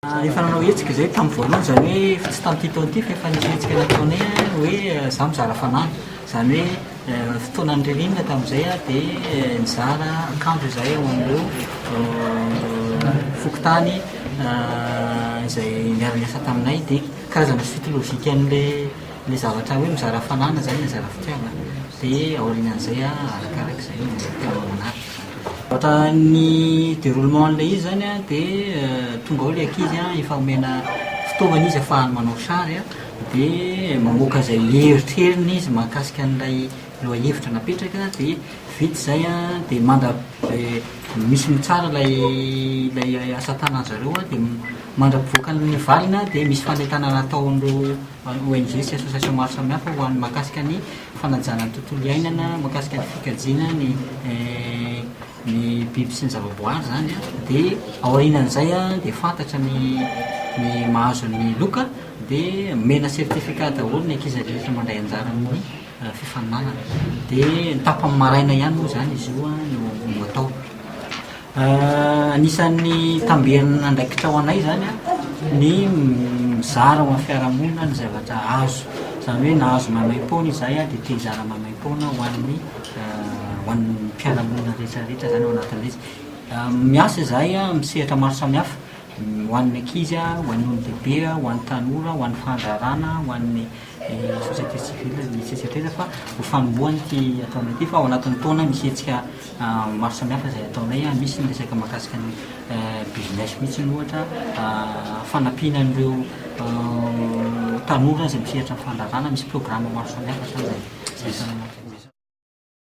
Efa nanao hetsika izay tamin'ny voalohany, izany hoe tsy tamin'ity taona ity fa efa nisy hetsika nataonay hoe izaho mizara fanamby, izany hoe fotoanan'ny ririnina tamin'izay aho dia nizara akanjo izahay ao amin'ireo fokontany izay niara-niasa taminay dia karazana suite logique an'ilay zavatra hoe mizara fananana izany, mizara fitiavana dia aorianan'izay arakaraka izay no tianao hanary. Vita ny deroulement an'ilay izy zany an, dia tonga ao ilay ankizy an, efa omena fitaovana izy afahany manao sary an, dia mamoaka izay eritreriny izy mahakasika an'ilay lohahevitra napetraka, dia vita izay an, dia manda- dia misy mitsara ilay ilay asa tanan'zareo an, dia mandrapivoakan'ny valiny an, dia misy fanentanana ataon'ireo. ary ONG sy association maro samihafa ho an'ny mahakasika ny fanajana ny tontolo iainana, mahakasika ny fikajiana ny ny biby sy ny zavaboary izany an, dia aorianan'izay an dia fantatra ny ny mahazo ny loka dia omena certificat daholo ny ankizy rehetra mandray anjara amin'ny fifaninanana, dia ny tapany maraina ihany moa izany izy io an no atao. Anisan'ny tambenana andraikitra ho anay izany ny mizara ho an'ny fiarahamonina ny zavatra azo. Izany hoe na azo maimaim-poana izahay dia te hizara maimaim-poana ho an'ny ho an'ny mpiara-monina rehetrarehetra izany ao anatin'ilay izy. Miasa izahay amin'ny sehatra maro samihafa, ho an'ny ankizy, ho an'ny olon-dehibe, ho an'ny tanora, ho an'ny fandraharahana, ho an'ny ny société civile ny tsy saitreza fa ho fanombohany ity ataonay ity fa ao anatin'ny taona misy hetsika maro samihafa izay ataonay a misy ny resaka mahakasika ny business mihitsy ny ohatra fanampiana an'ireo tanora izay misehatra amin'ny fandraharana misy programme maro samihafa hatrany izay izay